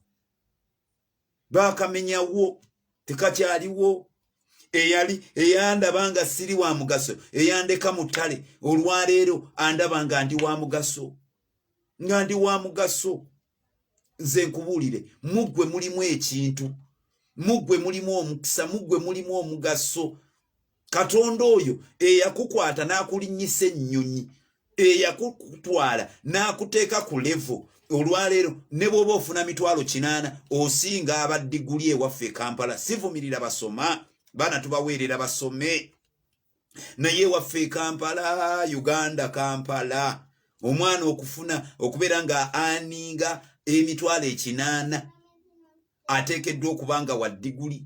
baakamenyawo tekakyaliwo eyali eyandaba nga siri wa mugaso eyandeka mu ttale olwaleero andaba nga ndi wa mugaso nga ndi wa mugaso nze nkubuulire muggwe mulimu ekintu muggwe mulimu omukisa muggwe mulimu omugaso katonda oyo eyakukwata n'akulinnyisa ennyonyi eyakutwala n'akuteeka ku levo olwaleero ne bw'oba ofuna mitwalo kinaana osinga abaddiguli ewaffe e kampala sivumirira basoma baana tubaweerera basome naye waffe e kampala uganda kampala omwana okufuna okubeera nga aninga emitwalo ekinaana ateekeddwa okuba nga wa diguli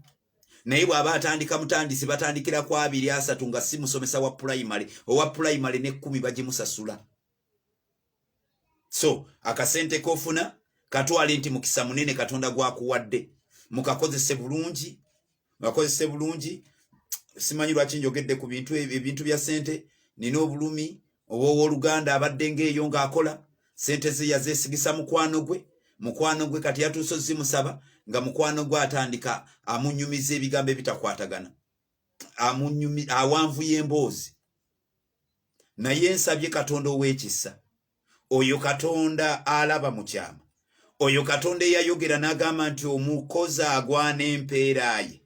naye bw'aba atandika mutandisi batandikira ku abiri asatu nga si musomesa wa pulayimale owa pulayimale n'ekkumi bagimusasula so akasente kofuna katwale nti mukisa munene katonda gwakuwadde mukakozese bulungi mukakozese bulungi simanyi lwaki njogedde ku bintu ebintu bya sente nina obulumi oba owoluganda abadde ngaeyo ngaakola sente ze yazesigisa mukwano gwe mukwano gwe kati yatuuso zimusaba nga mukwano gwe atandika amunyumiza ebigambo ebitakwatagana amunyumi awanvuya emboozi naye nsabye katonda ow'ekisa oyo katonda alaba mu kyama oyo katonda eyayogera n'agamba nti omukozi agwana empeera ye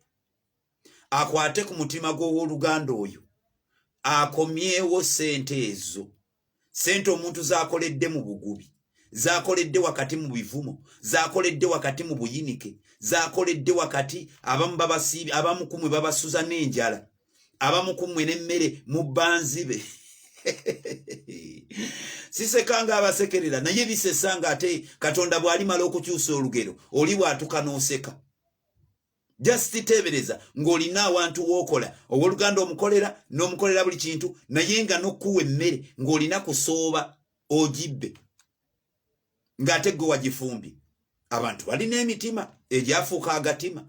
akwate ku mutima gw'ow'oluganda oyo akomyewo ssente ezo sente omuntu zakoledde mu bugubi zakoledde wakati mu bivumo zakoledde wakati mu buyinike zakoledde wakati abamu babasiibi abamu kumwe babasuza n'enjala abamu kumwe n'emmere mu banzibe sisekanga abasekerera naye bisesanga ate katonda bw'alimala okukyusa olugero oli bw'atuka n'oseka just tebereza ng'olina awantu w'okola ow'oluganda omukolera n'omukolera buli kintu naye nga n'okuwa emmere ng'olina kusooba ogibbe ng'ate gwe wagifumbye abantu balina emitima egyafuuka agatima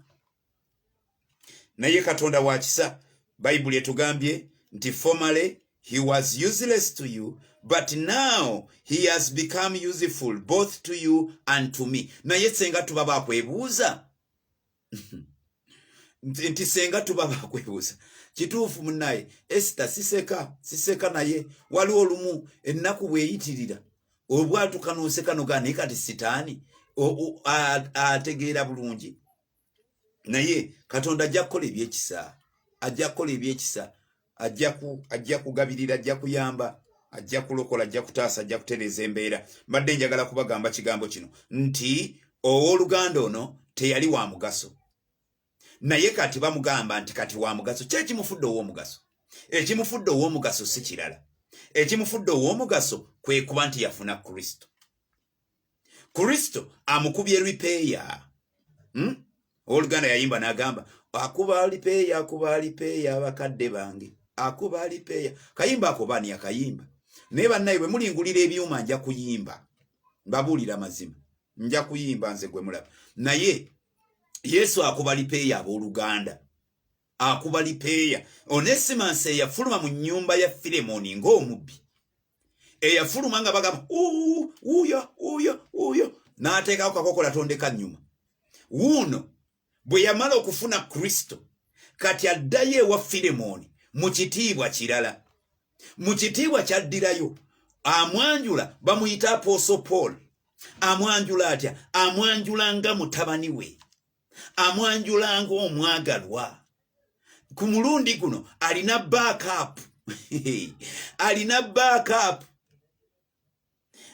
naye katonda wa kisa bayibuli etugambye nti formerly he was useless to you but now he has become useful both to you and to me naye senga tuba bakwebuuza nti senga tuba bakwebuuza kituufu munaye esita siseka siseka naye waliwo olumu ennaku bweyitirira obwatuka noseka nogaa naye kati sitaani ategeera bulungi naye katonda ajja kukola ebyekisa ajja kukola ebyekisa ajja kugabirira ajja kuyamba ajja kulokola ajja kutaasa ajja kutereeza embeera mbadde njagala kubagamba kigambo kino nti owooluganda ono teyali wa mugaso naye kati bamugamba nti kati wa mugaso ki ekimufudde ow'omugaso ekimufudde ow'omugaso si kirala ekimufudde ow'omugaso kwe kuba nti yafuna kristo kristo amukubye ripeya hmm? oluganda yayimba nagamba akuba alipeya akuba alipeya abakadde bange akuba alipeya kayimba akobani akayimba naye bannaye bwe mulingulira ebyuma nja kuyimba mbabuulira mazima nja kuyimba nze gwe mulaba naye yesu akuba alipeya abooluganda akuba lipeeya onesimasi eyafuluma mu nyumba ya filemoni ng'omubbi eyafuluma nga bagamba uyo uyo uyo n'ateekako kakokola tondeka nnyuma wuuno bwe yamala okufuna kristo kati addayo ewa filemoni mu kitiibwa kirala mu kitiibwa kyaddirayo amwanjula bamuyita apooso paul amwanjula atya amwanjula nga mutabani we amwanjula ng'omwagalwa ku mulundi guno alina backup alina backup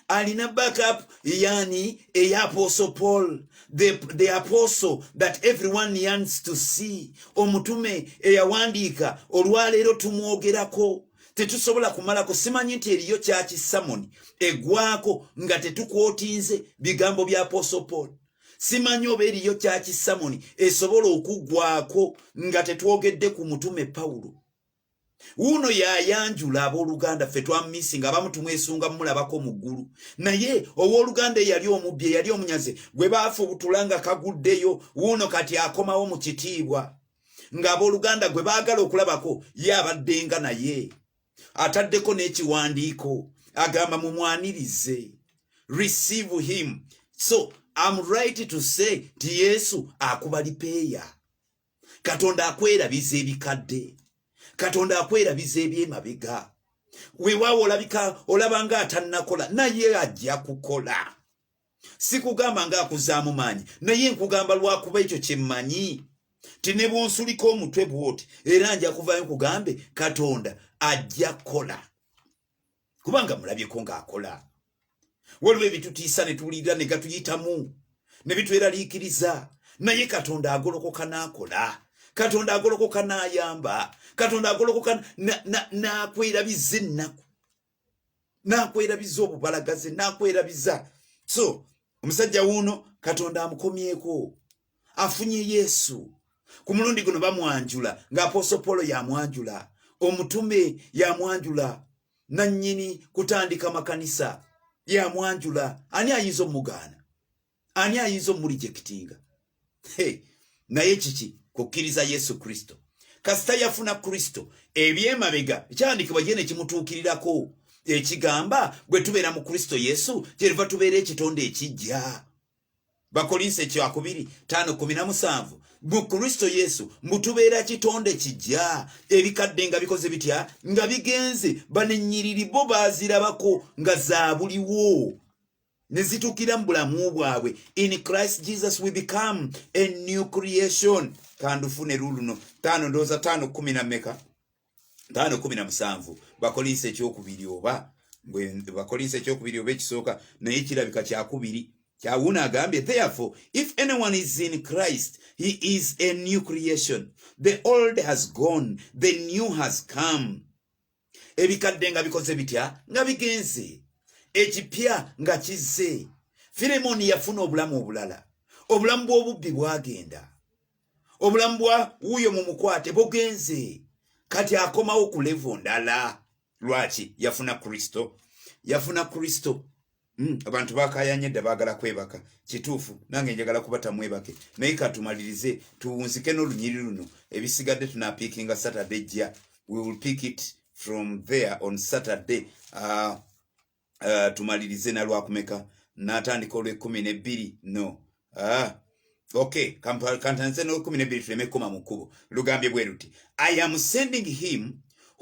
alina backup yani eya apostle paul the, the apostle that everyone yearns to see omutume eyawandiika olwaleero tumwogerako tetusobola kumalako simanyi nti eriyo kyaki samoni egwako nga tetukwotinze bigambo bya apostle paul simanyi oba eriyo kyakisamoni esobola okuggwako nga tetwogedde ku mutume pawulo wuuno yayanjula abooluganda ffe twamisi nga abamu tumwesunga mumulabako mu ggulu naye owooluganda eyali omubbi eyali omunyaze gwe baafubutula nga kaguddeyo wuuno kati akomawo mu kitiibwa ng'abooluganda gwe baagala okulabako ye abaddenga naye ataddeko n'ekiwandiiko agamba mumwanirize receive him so am right to say ti yesu akuba lipeeya katonda akwerabiza ebikadde katonda akwerabiza ebyemabega wewawo olabika olabanga atanakola naye ajja kukola sikugamba nga akuzaamu maanyi naye nkugamba lwakuba ekyo kyemmanyi ti ne bwonsulika omutwe bwoti era nja kuvayo nkugambe katonda ajja kukola kubanga mulabyeko ng'akola waliwo ebitutiisa ne tuwulirira ne gatuyitamu ne bitweraliikiriza naye katonda agolokoka n'akola katonda agolokoka n'ayamba katonda agolokoka n'akwerabiza ennaku nakwerabiza obubalagaze nakwerabiza so omusajja wuuno katonda amukomyeko afunye yesu ku mulundi guno bamwanjula ng'apooso polo yamwanjula omutume yamwanjula nannyini kutandika makanisa yamwanjula ani ayinza omugaana ani ayinza omulijekitinga hey, naye kiki kukkiriza yesu kristo kasita yafuna kristo ebyemabega kyandikibwa ye nekimutuukirirako ekigamba bwe tubeera mu kristo yesu kyeriva tubeera ekitonde ekijja bakolinsi ekyakubiri tano kumi na musanvu mu kristo yesu mutubeera kitonde kijja ebikadde nga bikoze bitya nga bigenze banenyiriri bo bazirabako nga zabuliwo ne zituukira mu bulamu bwabwe in christ jesus we become a new creation kandufune luluno taano ndowooza taano kumi na meka taano kumi na musanvu bakolinsa ekyokubiri oba bakolinsa ekyokubiri oba ekisooka naye kirabika kyakubiri kyawuuna agambye therefore if anyone is in christ he is a new creation the old has gone the new has come ebikadde nga bikoze bitya nga bigenze ekipya nga kizze firemoni yafuna obulamu obulala obulamu bw'obubbi bwagenda obulamu bwa wuuyo mu mukwate bugenze kati akomawo ku levo ndala lwaki yafuna kristo yafuna kristo Mm, abantu bakayanye dda bagala kwebaka kituufu nange njagala kuba tamwebake naye katumalirize tuwunzike n'olunyiri luno ebisigadde tunapiikinga saturday jja we will pick it from there on saturday uh, uh, tumalirize nalwakumeka natandika olwekumi nebbiri no uh, okay kantanze n'olwekumi nebbiri tuleme kukoma mu kkubo lugambye bwe luti i am sending him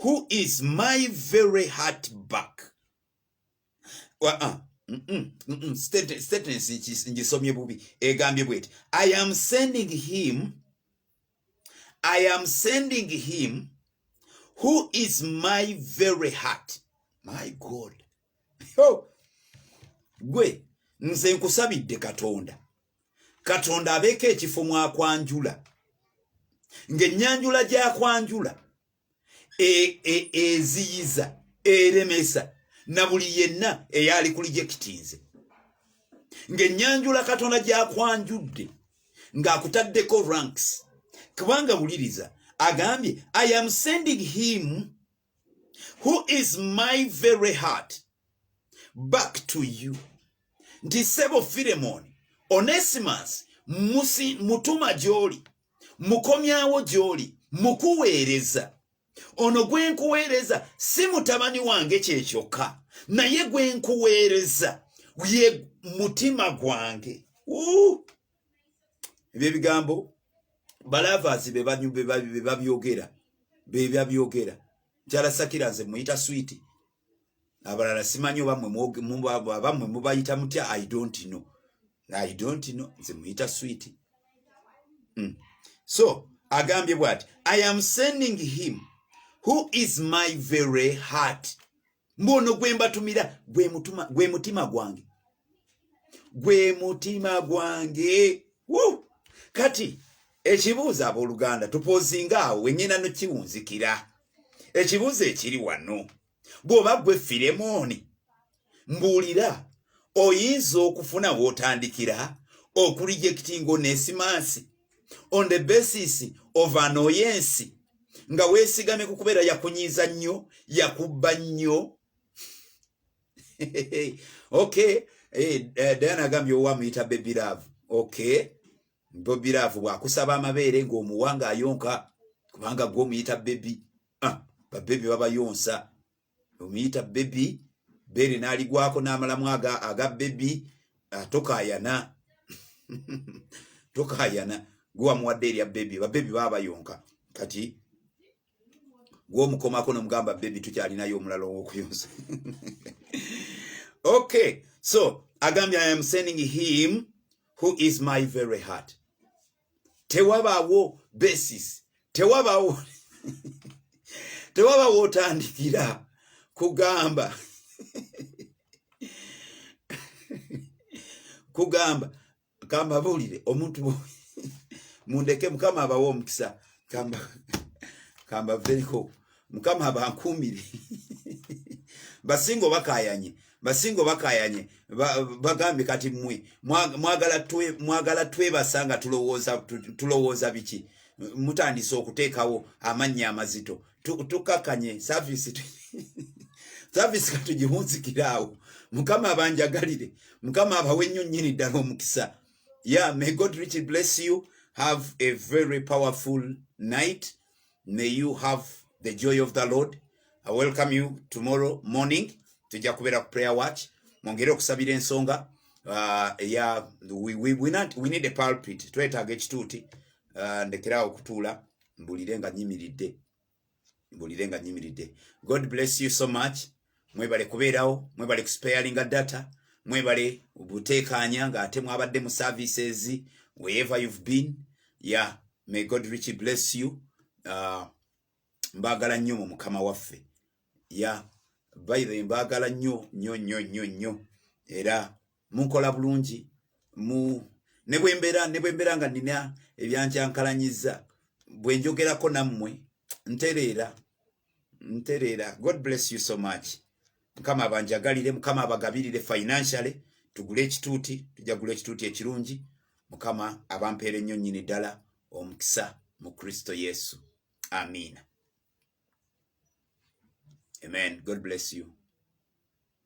who is my very heart back statements ngisomye bubi egambye bweti i am sending him i am sending him who is my very heart my god oh. gwe nze nkusabidde katonda katonda abeeko ekifo mwakwanjula ng'ennyanjula gyakwanjula e, e, eziyiza eremesa na buli yenna eyali kuli gyekitinze ng'ennyanjula katonda gyakwanjudde ng'akutaddeko ranks kubanga wuliriza agambye i am sending him who is my very heart back to you nti sebo firemoni onesimus mutuma gy'oli mukomyawo gy'oli mukuweereza ono gwe nkuweereza si mutabani wange kye kyokka naye gwe nkuweereza ye mutima gwange ebyo ebigambo balavasi bebabyogera bebabyogera nkyala sakira nze muyita switi abalala simanyi oba mwe mubayita mutya i don't know i don't know nze muyita sweet mm. so agambye bwati i am sending him who is my very heart mbono gwembatumira gwe mutima gwange gwe mutima gwange kati ekibuuzo abooluganda tupozinga awo wenyina nokiwunzikira ekibuuzo ekiri wano bw'oba gwe firemooni mbuulira oyinza okufuna w'otandikira okulijekitinga onesimansi on the basis of anoyensi nga weesigamye ku kubeera yakunyiiza nnyo yakubba nnyo okay eh, eh, Diana agambye owa muyita baby love okay baby love bwakusaba amabeere ng'omuwanga ayonka kubanga gwe omuyita baby ah, babebi babayonsa omuyita baby beere n'aligwako n'amalamu aga aga baby ah, tokayana tokayana gwe wamuwadde erya baby babebi babayonka kati gwomukomako nomugamba bebi tukyalinayo omulala owokuyonza okay so agambye i am sending him who is my very heart tewabaawo basis tewabaawo tewabaawo otandikira kugamba kugamba kambabuulire omuntu mundeke mukama abawa omukisa kambavereko mukama abankuumire basinga obakayanye basinga obakayanye bagambye kati mwe mwagala twebasa nga tulowooza biki mutandise okuteekawo amannya amazito tukakanye service service katujihunzikiraawo mukama abanjagalire mukama abawe nnyo nnyini ddala omukisa ya may god richly bless you have a very powerful night may you have the joy of the lord i welcome you tomorrow morning tujja kubeera ku prayer watch mwongere okusabira ensonga uh, ya we, we, we, not, we need a pulpit twetaaga ekituuti uh, ndekeraawo okutuula mbulire nga nyimiridde mbulire nga nyimiridde god bless you so much mwebale kubeerawo mwebale kusparinga data mwebale buteekaanya nga ate mwabadde mu services wherever you've been ya yeah. may god richly bless you uh, mbagala nnyo mu mukama waffe ya yeah. by the mbagala nnyo nnyo nnyo nnyo nnyo era munkola bulungi mu ne bwe mbeera ne bwe mbeera nga nnina ebyankyankalanyizza bwe njogerako nammwe ntereera ntereera god bless you so much mukama abanjagalire mukama abagabirire financially tugule ekituuti tujja kugula ekituuti ekirungi mukama abampeera ennyo nnyini ddala omukisa mu kristo yesu amiina amen god bless you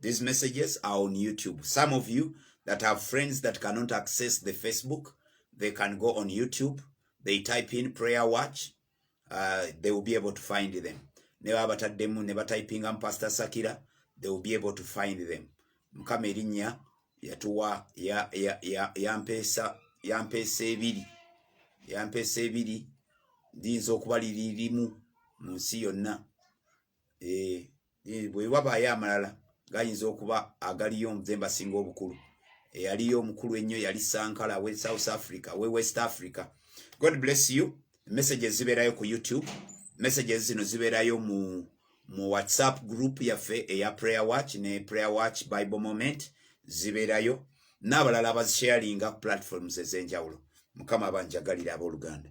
These messages are on YouTube. Some of you that have friends that cannot access the Facebook, they can go on YouTube. They type in prayer watch. Uh, they will be able to find them. Never bata demu, never typing on Pastor Sakira. They will be able to find them. Mkame rinya, ya tuwa, ya, ya, ya, ya mpesa, ya mpesa ebiri. Ya mpesa ebiri. Dinzo kubali rimu, msiyo na. Eh. eh, bwe wabaayo amalala gayinza okuba agaliyo nze mbasinga obukulu eyaliyo omukulu ennyo yali sankala we south africa we west africa god bless you messages zibeerayo ku youtube messages zino zibeerayo mu mu whatsapp group yaffe eya prayer watch ne prayer watch bible moment zibeerayo n'abalala abazisharinga platforms ez'enjawulo mukama abanjagalira abooluganda